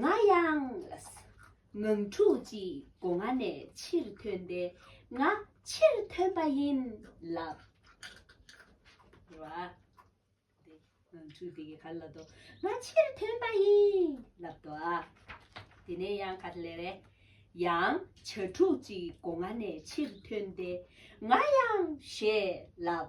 ང་ཡང་ངང་ཕྲུག་ཅིག་སྒོ་ང་ནས་ཕྱིར་ཐོན་ཏེ་ང་ཕྱིར་ཐོན་པ་ཡིན་ལབ། རེད་བ། དེ་ངང་ཕྲུག་དེ་གི་གར་ལ་དོ་ང་ཕྱིར་ཐོན་པ་ཡིན་ལབ་དོ་ཨ། དེ་ནས་ཡང་ག་དེ་ལས་རེད། ཡང་བྱ་ཕྲུག་ཅིག་སྒོ་ང་ནས་ཕྱིར་ཐོན་ཏེ་ང་ཡང་ཞེས་ལབ།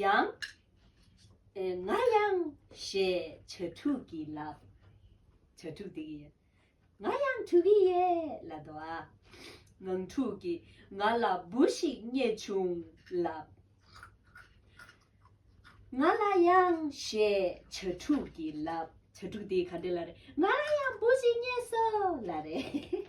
ཡང། ང་ཡང་ཞེས་བྱ་ཕྲུག་གི་ལག། བྱ་ཕྲུག་དེ་གི་ཡིན། ང་ཡང་ཕྲུག་གི་ཡས་ལ་དོ་ཨ། ངང་ཕྲུག་གི་ང་ལ་བུ་ཞིག་རྙེད་བྱུང་ལགས། ང་ལ་ཡང་ཞེས་བྱ་ཕྲུག་གི་ལག། བྱ་ཕྲུག་དེ་ག་འདྲེ་ལ་རེད། ང་ལ་ཡང་བུ་ཞིག་རྙེད་སོ་ལ་རེད།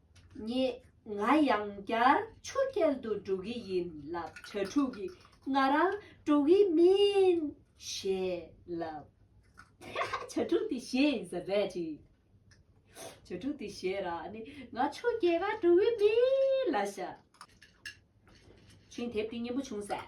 ངས་ང་ཡང་བསྐྱར་ཆུ་རྐྱལ་དུ་འགྲོ་གི་ཡིན་ལབ་གྲྭ་ཕྲུག་གིས་ང་རང་འགྲོ་གི་མིན་ཞེས་ལབ། གྲྭ་ཕྲུག་དེ་ཞེས་ཟ་བས་ཅི། གྲྭ་ཕྲུག་དེ་ཞེས་ར་ནི་ང་ཆུ་རྐྱལ་ག་འགྲོ་གི་མིན་ལ་ཞག་ཆེན་དེབ་དེ་སྙན་པོ་བྱུང་ཟེར།